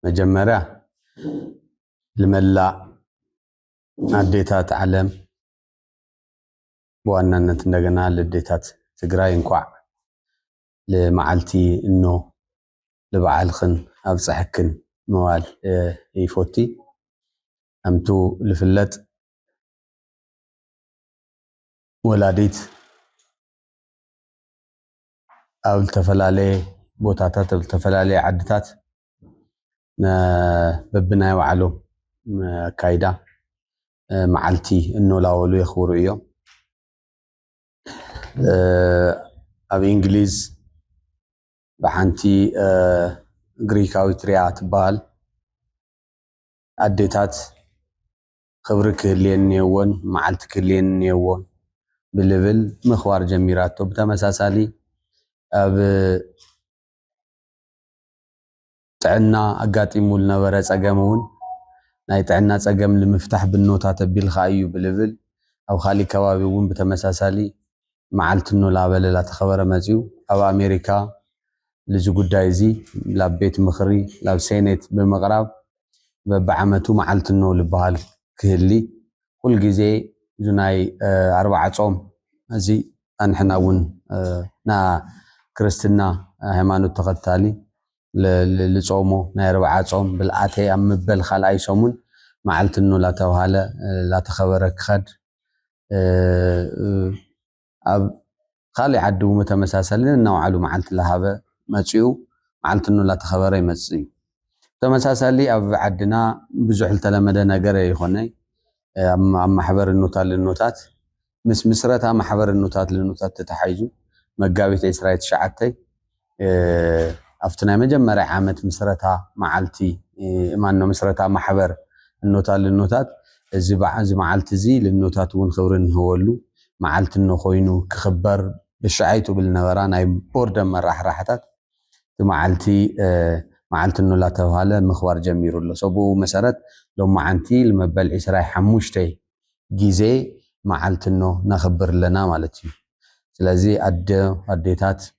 መጀመርያ ልመላእ ኣዴታት ዓለም ብዋናነት እንደገና ልዴታት ትግራይ እንኳዕ ልመዓልቲ እኖ ልበዓልክን ኣብፀሐክን መባል ይፎቲ ከምቱ ልፍለጥ ወላዲት ኣብ ዝተፈላለየ ቦታታት ኣብ ዝተፈላለየ ዓድታት በብናይ ባዕሎም ኣካይዳ መዓልቲ እኖላወሉ የኽብሩ እዮም። ኣብ እንግሊዝ ብሓንቲ ግሪካዊት ሪያ ትበሃል ኣዴታት ኽብሪ ክህልየን እኔዎን መዓልቲ ክህልየን እኔዎን ብልብል ምኽባር ጀሚራቶ። ብተመሳሳሊ ኣብ ጥዕና ኣጋጢሙ ዝነበረ ፀገም እውን ናይ ጥዕና ፀገም ንምፍታሕ ብኖታ ተቢልኻ እዩ ብልብል ኣብ ኻሊእ ከባቢ እውን ብተመሳሳሊ መዓልቲ ኖላበል ላተኸበረ መጺኡ ላብ ኣሜሪካ ልዚ ጉዳይ እዚ ላብ ቤት ምኽሪ ላብ ሴኔት ብምቕራብ በብዓመቱ መዓልቲ ኖ ልበሃል ክህሊ ኩል ግዜ ዙናይ ኣርባዓ ጾም እዚ ኣንሕና እውን ና ክርስትና ሃይማኖት ተኸታሊ ልጾሞ ናይ ኣርባዓ ጾም ብልኣተይ ኣብ ምበል ኻልኣይ ሰሙን መዓልቲ ኖ ላተብሃለ ላተኸበረ ክኸድ ኣብ ኻሊእ ዓዲ ውን ብተመሳሰሊ ነናባዕሉ መዓልቲ ላሃበ መፂኡ መዓልትኑ ላተኸበረ ይመፅእ እዩ። ብተመሳሳሊ ኣብ ዓድና ብዙሕ ልተለመደ ነገር ኣይኾነይ ኣብ ማሕበር እኖታት ልኖታት ምስ ምስረታ ማሕበር እኖታት ልኖታት ተታሓሒዙ መጋቢት ዕስራ ትሽዓተ፣ ኣብቲ ናይ መጀመርያ ዓመት ምስረታ መዓልቲ ማኖ ምስረታ ማሕበር እኖታት ልኖታት እዚ እዚ መዓልቲ እዚ ልኖታት እውን ክብሪ እንህበሉ መዓልቲ እኖ ኮይኑ ክኽበር ብሻዓይ ትብል ነበራ ናይ ቦርደ መራሕራሕታት እቲ መዓልቲ መዓልቲ እኖ ላተብሃለ ምኽባር ጀሚሩ ኣሎ ሰብኡ መሰረት ሎማዓንቲ ልመበል ዒስራይ ሓሙሽተይ ጊዜ መዓልቲ እኖ ነኽብር ኣለና ማለት እዩ ስለዚ ኣደ ኣዴታት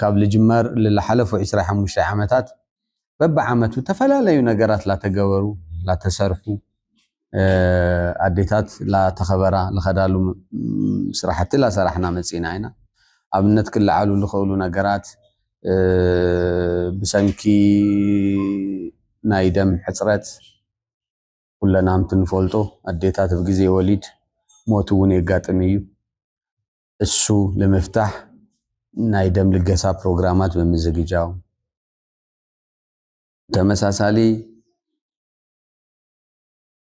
ካብ ልጅመር ልላሓለፉ ዕስራ ሓሙሽተ ዓመታት በብዓመቱ ተፈላለዩ ነገራት ላተገበሩ ላተሰርሑ ኣዴታት ላተኸበራ ልኸዳሉ ስራሕቲ ላሰራሕና መፂእና ኢና። ኣብነት ክለዓሉ ልኸእሉ ነገራት ብሰንኪ ናይ ደም ሕፅረት ኩለናምቲ ንፈልጦ ኣዴታት ብግዜ ወሊድ ሞት እውን የጋጥም እዩ። እሱ ንምፍታሕ ናይ ደም ልገሳ ፕሮግራማት ብምዝግጃው ተመሳሳሊ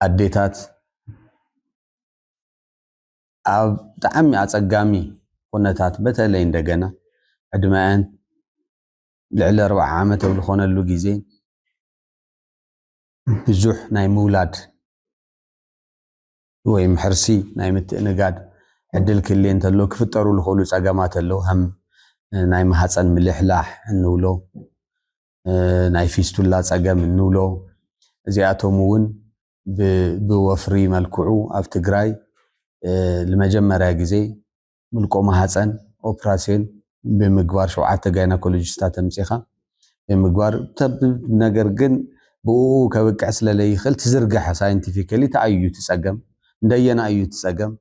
ኣዴታት ኣብ ብጣዕሚ ኣፀጋሚ ኩነታት በተለይ እንደገና ዕድመአን ልዕሊ ኣርባዓ ዓመት ኣብ ዝኾነሉ ግዜ ብዙሕ ናይ ምውላድ ወይም ሕርሲ ናይ ምትእንጋድ ዕድል ክህልዬ እንተሎ ክፍጠሩ ልኽእሉ ፀገማት ኣለው። ሀም ናይ ማህፀን ምልሕላሕ እንብሎ፣ ናይ ፊስቱላ ፀገም እንብሎ እዚኣቶም እውን ብወፍሪ መልክዑ ኣብ ትግራይ ልመጀመርያ ግዜ ምልቆ ማህፀን ኦፕራሲዮን ብምግባር ሸውዓተ ጋይናኮሎጂስታት ኣምፂኻ ብምግባር ተብ ነገር ግን ብኡ ከብቅዕ ስለለይኽእል ትዝርግሐ ሳይንቲፊካሊ ታይ እዩ ትፀገም እንደየና እዩ ትፀገም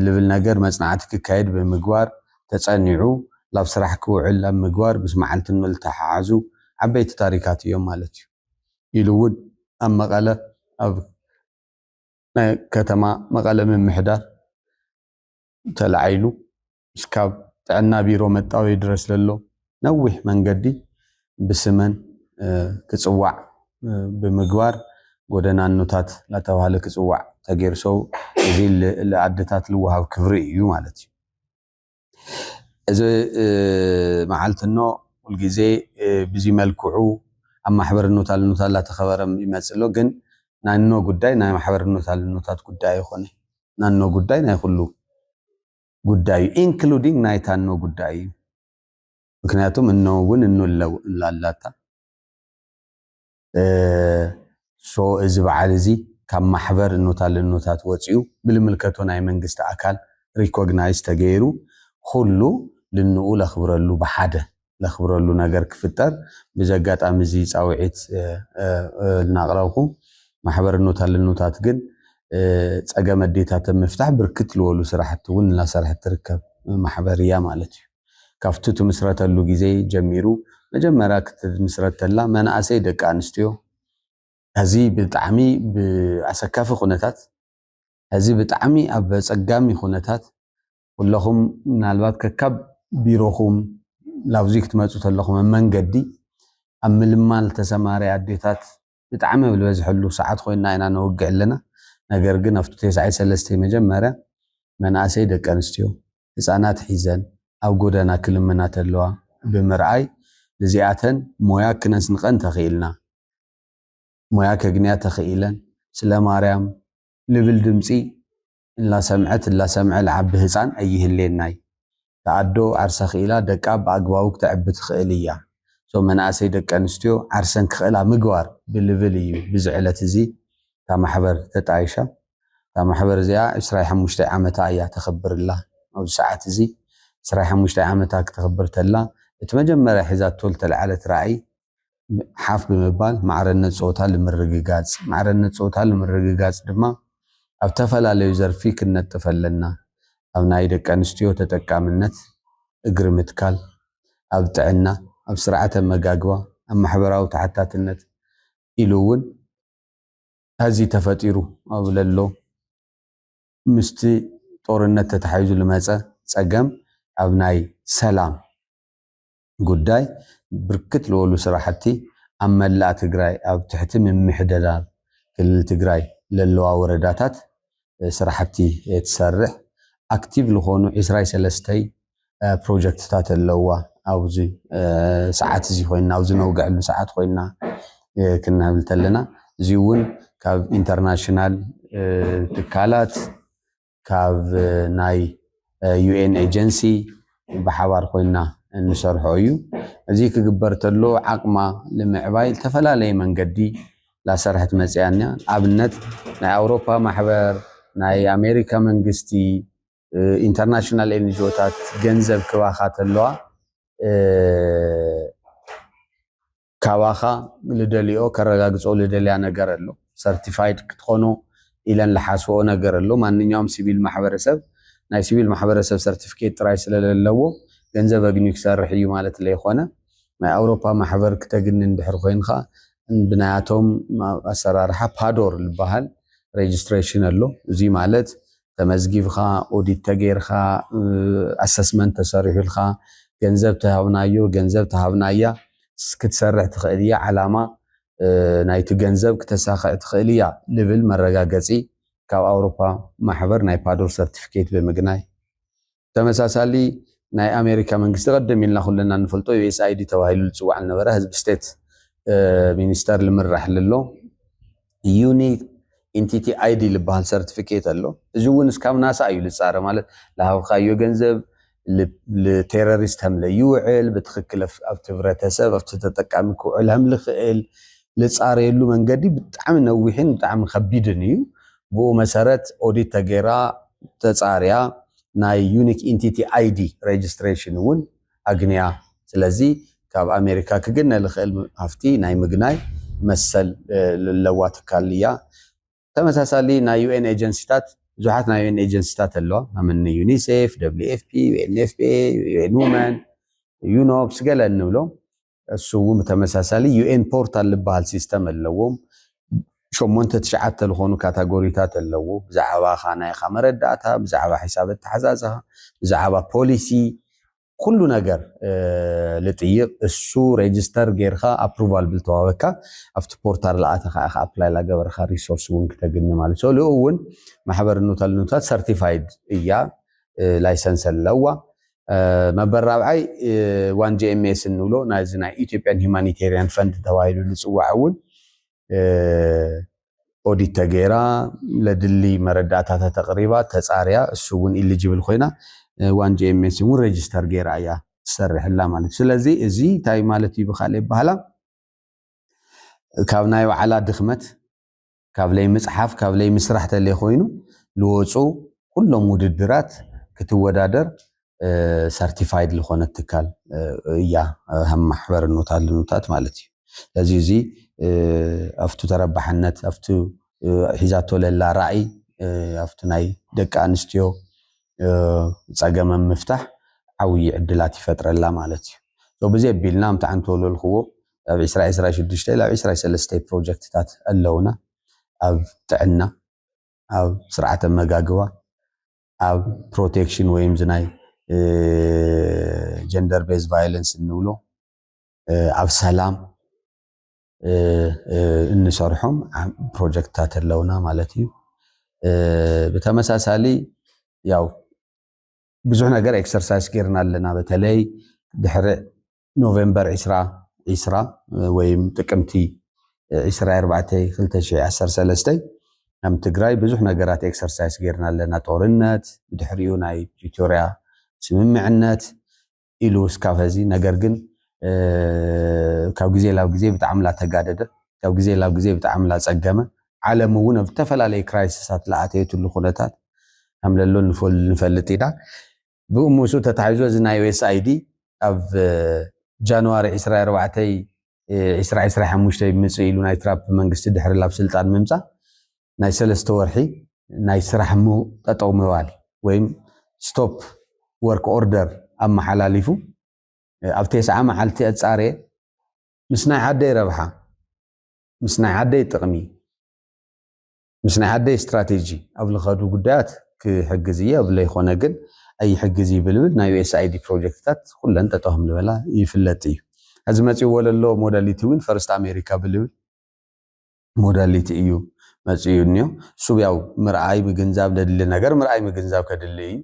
ልብል ነገር መፅናዕቲ ክካየድ ብምግባር ተፀኒዑ ላብ ስራሕ ክውዕል ኣብ ምግባር ምስ መዓልቲ ንልተሓሓዙ ዓበይቲ ታሪካት እዮም ማለት እዩ። ኢሉ እውን ኣብ መቐለ ኣብ ናይ ከተማ መቐለ ምምሕዳር ተላዒሉ እስካብ ጥዕና ቢሮ መጣወዪ ድረስ ዘሎ ነዊሕ መንገዲ ብስመን ክፅዋዕ ብምግባር ጎደናኖታት እናተባህለ ክፅዋዕ ተገይሩ ሰው እዚ ልኣደታት ልወሃብ ክብሪ እዩ ማለት እዩ። እዚ መዓልቲ እኖ ሁልጊዜ ብዚ መልክዑ ኣብ ማሕበር እኖታ ልኖታ እናተኸበረ ይመፅእ ኣሎ። ግን ናይ እኖ ጉዳይ ናይ ማሕበር እኖታ ልኖታት ጉዳይ ኣይኾነይ። ናኖ ጉዳይ ናይ ኩሉ ጉዳዩ ኢንክሉዲንግ ናይ ታኖ ጉዳይ እዩ ምክንያቱም እኖ እውን እኖ ላላታ ሶ እዚ በዓል እዚ ካብ ማሕበር እኖታት ልኖታት ወፂኡ ብልምልከቶ ናይ መንግስቲ ኣካል ሪኮግናይዝ ተገይሩ ኩሉ ልንኡ ለኽብረሉ ብሓደ ነኽብረሉ ነገር ክፍጠር ብዚ ኣጋጣሚ እዚ ፃውዒት እናቕረብኹ ማሕበር እኖት ኣለኖታት ግን ፀገም ኣዴታት ኣብ ምፍታሕ ብርክት ልወሉ ስራሕቲ እውን እናሰርሐት ትርከብ ማሕበር እያ ማለት እዩ። ካብቱ ትምስረተሉ ግዜ ጀሚሩ መጀመርያ ክትምስረት ተላ መናእሰይ ደቂ ኣንስትዮ ሀዚ ብጣዕሚ ብኣሰካፊ ኩነታት ሀዚ ብጣዕሚ ኣብ ኣፀጋሚ ኩነታት ኩለኹም ምናልባት ከካብ ቢሮኹም ላብዙይ ክትመፁ ተለኹም ኣብ መንገዲ ኣብ ምልማል ተሰማሪ ኣዴታት ብጣዕሚ ኣብ ዝበዝሐሉ ሰዓት ኮይና ኢና ነወግዕ ኣለና። ነገር ግን ኣብቱ ቴስዓይ ሰለስተይ መጀመርያ መናእሰይ ደቂ ኣንስትዮ ህፃናት ሒዘን ኣብ ጎደና ክልምና ተለዋ ብምርኣይ ንዚኣተን ሞያ ክነስንቐን ተኽኢልና ሞያ ከግንያ ተኽኢለን ስለ ማርያም ልብል ድምፂ እላሰምዐት እላሰምዐ ልዓቢ ህጻን ኣይህሌናይ እታ ኣዶ ዓርሳ ክኢላ ደቃ ብኣግባቡ ክተዕቢ ትክእል እያ so መናእሰይ ደቂ ኣንስትዮ ዓርሰን ክክእላ ምግባር ብልብል እዩ ብዚ ዕለት እዚ እታ ማሕበር ተጣይሻ እታ ማሕበር እዚኣ ዕስራይ ሓሙሽተይ ዓመታ እያ ተክብር እላ ኣብዚ ሰዓት እዚ ዕስራይ ሓሙሽተይ ዓመታ ክተክብር ተላ እቲ መጀመርያ ሒዛቶ ልተልዓለት ራእይ ሓፍ ብምባል ማዕረነት ፆታ ልምርግጋፅ። ማዕረነት ፆታ ልምርግጋፅ ድማ ኣብ ተፈላለዩ ዘርፊ ክንነጥፍ ኣለና። ኣብ ናይ ደቂ ኣንስትዮ ተጠቃምነት እግሪ ምትካል፣ ኣብ ጥዕና፣ ኣብ ስርዓተ ኣመጋግባ፣ ኣብ ማሕበራዊ ተሓታትነት ኢሉ እውን ሐዚ ተፈጢሩ ኣብ ለሎ ምስቲ ጦርነት ተተሓሒዙ ልመፀ ፀገም ኣብ ናይ ሰላም፣ ጉዳይ ብርክት ልበሉ ስራሕቲ ኣብ መላእ ትግራይ ኣብ ትሕቲ ምምሕደዳር ክልል ትግራይ ለለዋ ወረዳታት ስራሕቲ ትሰርሕ ኣክቲቭ ልኾኑ ዕስራይ ሰለስተይ ፕሮጀክትታት ኣለውዋ ኣብዚ ሰዓት እዚ ኮይና ኣብዚ ነውግዐሉ ሰዓት ኮይና ክንብል ተለና እዚ እውን ካብ ኢንተርናሽናል ትካላት ካብ ናይ ዩኤን ኤጀንሲ ብሓባር ኮይና እንሰርሖ እዩ። እዚ ክግበር ተሎ ዓቕማ ንምዕባይ ዝተፈላለየ መንገዲ ላሰርሐት መፅያ እና ኣብነት ናይ ኣውሮፓ ማሕበር ናይ ኣሜሪካ መንግስቲ ኢንተርናሽናል ኤንጅኦታት ገንዘብ ክባኻ ተለዋ ካባኻ ልደልኦ ከረጋግጾ ልደልያ ነገር ኣሎ ሰርቲፋይድ ክትኾኖ ኢለን ልሓስብኦ ነገር ኣሎ ማንኛውም ሲቪል ማሕበረሰብ ናይ ሲቪል ማሕበረሰብ ሰርቲፊኬት ጥራይ ስለ ለለዎ ገንዘብ ኣግንዩ ክሰርሕ ኢዩ ማለት ለይኾነ ናይ ኣውሮፓ ማሕበር ክተግንን ድሕሪ ኮይንኻ ብናያቶም ኣሰራርሓ ፓዶር ልበሃል ሬጅስትሬሽን ኣሎ እዙይ ማለት ተመዝጊብኻ ኦዲት ተገይርካ ኣሰስመንት ተሰሪሑልካ ገንዘብ ተሃብናዮ ገንዘብ ተሃብናያ ክትሰርሕ ትኽእል እያ ዓላማ ናይቲ ገንዘብ ክተሳኽዕ ትኽእል እያ ልብል መረጋገፂ ካብ ኣውሮፓ ማሕበር ናይ ፓዶር ሰርቲፊኬት ብምግናይ ተመሳሳሊ ናይ ኣሜሪካ መንግስቲ ቀደም ኢልና ኩልና እንፈልጦ ዩኤስኣይዲ ተባሂሉ ዝፅዋዕ ዝነበረ ህዝቢ ስቴት ሚኒስተር ልምራሕ ልሎ ዩኒት ኢንቲቲ አይዲ ልበሃል ሰርቲፊኬት ኣሎ እዚ እውን እስካብ ናሳ እዩ ልፃረ ማለት ልሃብካዮ ገንዘብ ልቴሮሪስት ሀምለ ይውዕል ብትክክል ኣብቲ ህብረተሰብ ኣብቲ ተጠቃሚ ክውዕል ሀምልክእል ልፃረየሉ መንገዲ ብጣዕሚ ነዊሕን ብጣዕሚ ከቢድን እዩ ብኡ መሰረት ኦዲት ተገይራ ተፃርያ ናይ ዩኒክ ኢንቲቲ ኣይዲ ሬጅስትሬሽን እውን ኣግንያ። ስለዚ ካብ ኣሜሪካ ክግነ ልኽእል ሃፍቲ ናይ ምግናይ መሰል ለለዋ ትካል እያ። ተመሳሳሊ ናይ ዩኤን ኤጀንሲታት ብዙሓት ናይ ዩኤን ኤጀንሲታት ኣለዋ። ናምኒ ዩኒሴፍ፣ ደብሊው ኤፍፒ፣ ዩኤንኤፍፒኤ፣ ዩኤን ውመን፣ ዩኖፕስ ገለ እንብሎም እሱውን ብተመሳሳሊ ዩኤን ፖርታል ዝበሃል ሲስተም ኣለዎም። ሸሞንተ ትሽዓተ ዝኾኑ ካታጎሪታት ኣለዎ። ብዛዕባኻ ናይኻ መረዳእታ፣ ብዛዕባ ሒሳብ ኣተሓዛዝኻ፣ ብዛዕባ ፖሊሲ ኩሉ ነገር ልጥይቕ እሱ ሬጅስተር ጌርካ ኣፕሩቫል ብልተዋበካ ኣብቲ ፖርታል ለኣተኻ ኢኻ ኣፕላይ ላገበርካ ሪሶርስ እውን ክተግኒ ማለት ሶ ልኡ እውን ማሕበር ኑታል ኑታት ሰርቲፋይድ እያ ላይሰንስ ኣለዋ መበል ራብዓይ ዋን ጂኤምኤስ እንብሎ ናይዚ ናይ ኢትዮጵያን ሂማኒቴሪያን ፈንድ ተባሂሉ ዝፅዋዕ እውን ኦዲት ተገይራ ለድሊ መረዳእታ ተተቕሪባ ተፃርያ እሱ እውን ኢሊጅብል ኮይና ዋን ጂኤምኤስ እውን ሬጅስተር ገይራ እያ ትሰርሕላ ማለት ስለዚ እዚ እንታይ ማለት እዩ ብካልእ ይበሃላ ካብ ናይ ባዕላ ድኽመት ካብ ለይምፅሓፍ ካብ ለይምስራሕ ተለይኮይኑ ልወፁ ኩሎም ውድድራት ክትወዳደር ሰርቲፋይድ ልኾነት ትካል እያ ሃም ማሕበር እኖታት ልኑታት ማለት እዩ ለዚ እዙይ ኣፍቱ ተረባሕነት ኣፍቱ ሒዛቶ ለላ ራእይ ኣፍቱ ናይ ደቂ ኣንስትዮ ፀገመም ምፍታሕ ዓውዪ ዕድላት ይፈጥረላ ማለት እዩ ብዘይ ኣቢልና ምታዓንተወለልክዎ ኣብ ዕስራ ዕስራ ሽዱሽተ ላብ ዕስራ ሰለስተ ፕሮጀክትታት ኣለውና ኣብ ጥዕና ኣብ ስርዓተ መጋግባ ኣብ ፕሮቴክሽን ወይም ዝናይ ጀንደር ቤዝ ቫዮለንስ እንብሎ ኣብ ሰላም እንሰርሖም ፕሮጀክትታት ኣለውና ማለት እዩ። ብተመሳሳሊ ያው ብዙሕ ነገር ኤክሰርሳይዝ ጌርና ኣለና። በተለይ ድሕሪ ኖቬምበር ዕስራ ዕስራ ወይም ጥቅምቲ ዕስራይ ኣርባዕተይ ክልተ ሽሕ ዓሰርተ ሰለስተ ከም ትግራይ ብዙሕ ነገራት ኤክሰርሳይስ ጌርና ኣለና። ጦርነት፣ ብድሕሪኡ ናይ ፕሪቶርያ ስምምዕነት ኢሉ እስካብ ሀዚ ነገር ግን ካብ ግዜ ላብ ግዜ ብጣዕሚ ላተጋደደ ካብ ግዜ ላብ ግዜ ብጣዕሚ ላፀገመ ዓለም እውን ኣብ ዝተፈላለዩ ክራይሲሳት ላኣተየትሉ ኩነታት ከምለሎ ንፈልጥ ኢና። ብኡ ምስኡ ተታሒዞ እዚ ናይ USAID ኣብ ጃንዋሪ ዕስራይ ኣርባዕተይ ዕስራ ዕስራይ ሓሙሽተ ብምጽእ ኢሉ ናይ ትራፕ መንግስቲ ድሕሪ ላብ ስልጣን ምምጻእ ናይ ሰለስተ ወርሒ ናይ ስራሕ ም ጠጠው ምባል ወይም stop work order ኣመሓላሊፉ ኣብ ቴስዓ መዓልቲ ኣጻርየ ምስ ናይ ዓደይ ረብሓ ምስ ናይ ዓደይ ጥቅሚ ምስ ናይ ኣደይ ስትራቴጂ ኣብ ልኸዱ ጉዳያት ክሕግዝ እየ እብ ለይኾነ ግን ኣይሕግዝ ይብል ብል ናይ USAID ፕሮጀክትታት ኩለን ጠጠው ከም ልበላ ይፍለጥ እዩ። ሕዚ መጺእዎ ለሎ ሞዳሊቲ እውን ፈርስት ኣሜሪካ ብልብል ሞዳሊቲ እዩ መጺኡ እንዮ። እሱ ያው ምርኣይ ምግንዛብ ለድሊ ነገር ምርኣይ ምግንዛብ ከድሊ እዩ።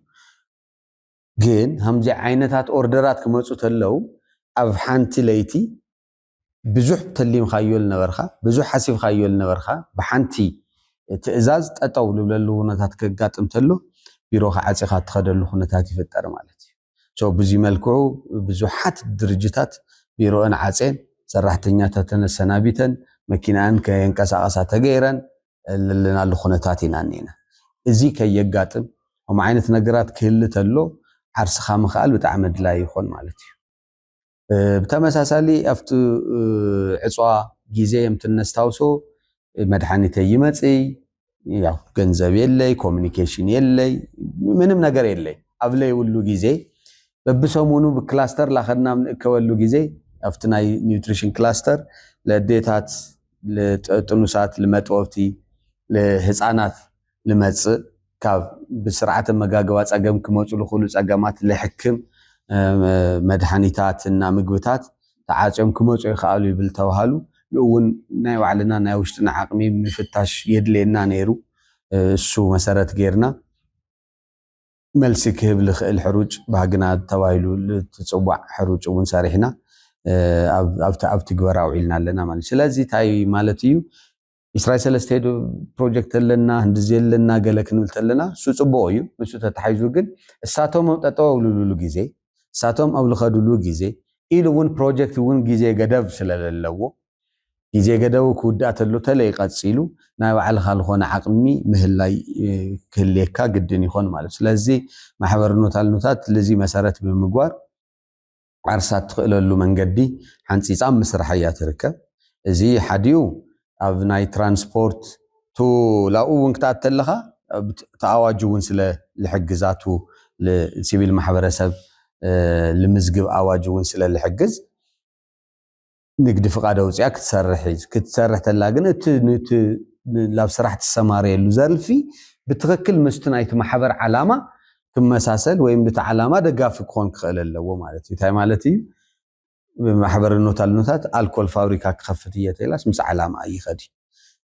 ግን ሃምዚ ዓይነታት ኦርደራት ክመጹ ተለው ኣብ ሓንቲ ለይቲ ብዙሕ ተሊምካዮ ልነበርካ፣ ብዙሕ ሓሲብካዮ ልነበርካ ብሓንቲ ትእዛዝ ጠጠው ልብለሉ ውነታት ከጋጥም ተሎ ቢሮኻ ዓፂኻ እትኸደሉ ኩነታት ይፍጠር ማለት እዩ። So ብዙይ መልክዑ ብዙሓት ድርጅታት ቢሮእን ዓፄን ሰራሕተኛታተን ኣሰናቢተን መኪናኣን ከየንቀሳቐሳ ተገይረን ለለናሉ ኩነታት ኢና እኒና። እዙይ ከየጋጥም ከምኡ ዓይነት ነገራት ክህሊ ተሎ ዓርስኻ ምኽኣል ብጣዕሚ ኣድላይ ይኾን ማለት እዩ። ብተመሳሳሊ ኣብቲ ዕፅዋ ጊዜ የምቲ እነስታውሶ መድኃኒተ ይመፅይ ያው ገንዘብ የለይ ኮሚኒኬሽን የለይ ምንም ነገር የለይ ኣብ ለይብሉ ጊዜ በብሰሙኑ ብክላስተር ላኸድና ንእከበሉ ጊዜ ኣብቲ ናይ ኒውትሪሽን ክላስተር ለዴታት ጥኑሳት ልመጥወብቲ ህፃናት ልመጽእ ካብ ብስርዓተ ኣመጋግባ ጸገም ክመጹ ልኽእሉ ጸገማት ልሕክም መድሃኒታት እና ምግብታት ተዓጽዮም ክመጹ ይክኣሉ ይብል ተብሃሉ። ንእውን ናይ ባዕልና ናይ ውሽጥና ዓቕሚ ምፍታሽ የድልየና ነይሩ። እሱ መሰረት ገይርና መልሲ ክህብ ልኽእል ሕሩጭ ባህግና ተባሂሉ ልትጽዋዕ ሕሩጭ እውን ሰሪሕና ኣብ ትግበራ ኣውዒልና ኣለና ማለት እዩ። ስለዚ እንታይ ማለት እዩ? ኢስራይ ሰለስተ ዶ ፕሮጀክት ኣለና ህንድዚ ኣለና ገለ ክንብል ተለና እሱ ጽቡቕ እዩ ንሱ ተታሒዙ ግን እሳቶም ኣብ ጠጠው ኣብልሉሉ ግዜ እሳቶም ኣብ ልኸድሉ ግዜ ኢሉ እውን ፕሮጀክት እውን ግዜ ገደብ ስለለለዎ ግዜ ገደቡ ክውዳእ ተሎ ተለይ ቀጺሉ ናይ ባዕልኻ ዝኾነ ዓቕሚ ምህላይ ክህልየካ ግድን ይኾን ማለት ስለዚ ማሕበር ኖታልኖታት ልዚ መሰረት ብምግባር ዓርሳ እትኽእለሉ መንገዲ ሓንፂፃ ኣብ ምስራሕ እያ ትርከብ። እዚ ሓዲኡ ኣብ ናይ ትራንስፖርት ቱ ላኡ እውን ክትኣት ተለኻ እቲ ኣዋጅ እውን ስለ ልሕግዛ ቱ ሲቪል ማሕበረሰብ ልምዝግብ ኣዋጅ እውን ስለ ልሕግዝ ንግዲ ፍቃድ ኣውፂኣ ክትሰርሕ እዩ ክትሰርሕ ተላ ግን እቲ ንቲ ናብ ስራሕ ትሰማረየሉ ዘርፊ ብትክክል ምስቲ ናይቲ ማሕበር ዓላማ ክመሳሰል ወይም ንቲ ዓላማ ደጋፊ ክኾን ክኽእል ኣለዎ ማለት እዩ እንታይ ማለት እዩ ማሕበር ኖታልኖታት ኣልኮል ፋብሪካ ክኸፍት እየ ተላስ ምስ ዓላማ ይኸድ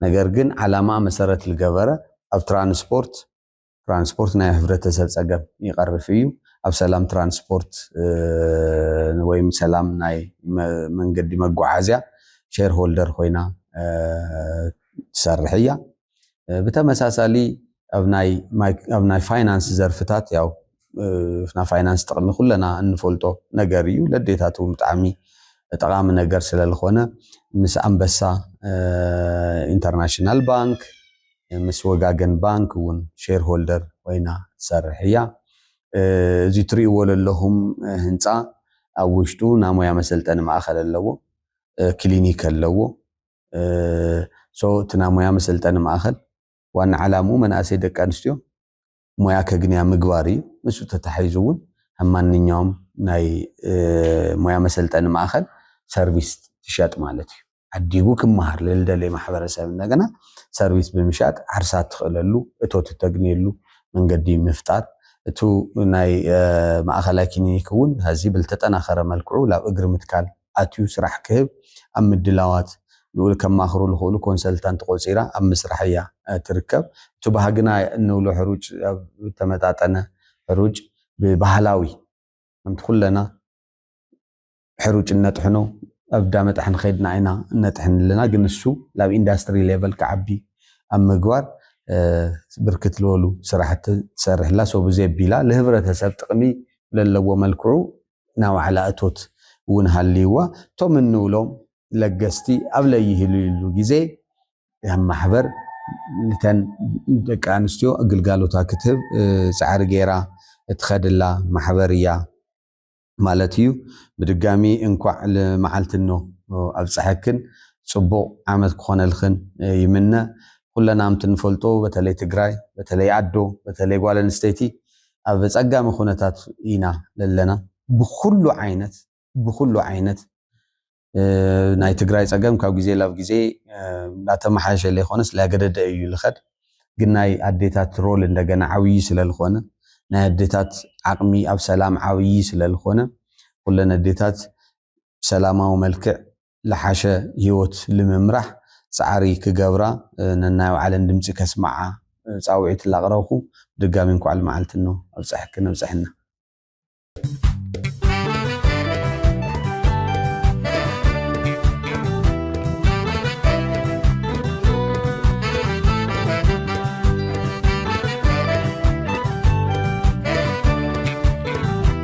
ነገር ግን ዓላማ መሰረት ልገበረ ኣብ ትራንስፖርት ትራንስፖርት ናይ ህብረተሰብ ፀገም ይቀርፍ እዩ። ኣብ ሰላም ትራንስፖርት ወይም ሰላም ናይ መንገዲ መጓዓዝያ ሼር ሆልደር ኮይና ትሰርሕ እያ። ብተመሳሳሊ ኣብ ናይ ፋይናንስ ዘርፍታት ያው ናይ ፋይናንስ ጥቕሚ ኩለና እንፈልጦ ነገር እዩ ለዴታት እውን ብጣዕሚ ጠቓሚ ነገር ስለዝኾነ ምስ ኣንበሳ ኢንተርናሽናል ባንክ ምስ ወጋገን ባንክ እውን ሼር ሆልደር ኮይና ትሰርሕ እያ። እዚ ትሪእዎ ለለኹም ህንፃ ኣብ ውሽጡ ናይ ሞያ መሰልጠኒ ማእኸል ኣለዎ፣ ክሊኒክ ኣለዎ። እቲ ናይ ሞያ መሰልጠኒ ማእኸል ዋና ዓላምኡ መናእሰይ ደቂ ኣንስትዮ ሞያ ከግንያ ምግባር እዩ። ምስኡ ተተሓሒዙ እውን ኣብ ማንኛውም ናይ ሞያ መሰልጠኒ ማእኸል ሰርቪስ ትሸጥ ማለት እዩ። ዓዲጉ ክመሃር ልልደልየ ማሕበረሰብ እንደገና ሰርቪስ ብምሻጥ ዓርሳ እትኽእለሉ እቶት እተግንየሉ መንገዲ ምፍጣር እቱ ናይ ማእኸላይ ክሊኒክ እውን ሀዚ ብልተጠናኸረ መልክዑ ላብ እግሪ ምትካል ኣትዩ ስራሕ ክህብ ኣብ ምድላዋት ልኡል ከማኽሩ ልኽእሉ ኮንሰልታንት ቆፂራ ኣብ ምስራሕ እያ ትርከብ። እቲ ባህግና እንብሎ ሕሩጭ ዝተመጣጠነ ሕሩጭ ብባህላዊ ከምቲ ኩለና ሕሩጭ እነጥሕኖ ኣብ እንዳ መጥሐኒ ከድና ኢና እነጥሕን ኣለና ግን እሱ ላብ ኢንዳስትሪ ሌቨል ክዓቢ ኣብ ምግባር ብርክት ልበሉ ስራሕቲ ትሰርሕ እላ ሶ ብዘይ ኣቢላ ልህብረተሰብ ጥቅሚ ብለለዎ መልክዑ ናይ ባዕላ እቶት እውን ሃልይዋ እቶም እንብሎም ለገስቲ ኣብ ለይህልይሉ ግዜ ከም ማሕበር ንተን ደቂ ኣንስትዮ ግልጋሎታ ክትህብ ፃዕሪ ገይራ እትኸድላ ማሕበር እያ ማለት እዩ። ብድጋሚ እንኳዕ ልመዓልትኖ ኣብፀሐክን ፅቡቕ ዓመት ክኾነልኽን ይምነ። ኹለና ከምትንፈልጦ በተለይ ትግራይ በተለይ ኣዶ በተለይ ጓል ኣንስተይቲ ኣብ ኣጸጋሚ ኩነታት ኢና ለለና ብኩሉ ዓይነት ብኩሉ ዓይነት ናይ ትግራይ ጸገም ካብ ግዜ ላብ ግዜ እንዳተመሓየሸ ለይኮነስ ላገደደ እዩ ልኸድ ግን ናይ ኣዴታት ሮል እንደገና ዓብዪ ስለልኾነ ናይ ኣዴታት ዓቕሚ ኣብ ሰላም ዓብዪ ስለልኾነ ኩለን ኣዴታት ብሰላማዊ መልክዕ ልሓሸ ህይወት ልምምራሕ ፃዕሪ ክገብራ ነናይ ባዕለን ድምፂ ከስምዓ ፃውዒት ላቅረብኹ ብድጋሚ እንኳዕ ልመዓልትኖ ኣብፀሐክን ኣብፀሐና።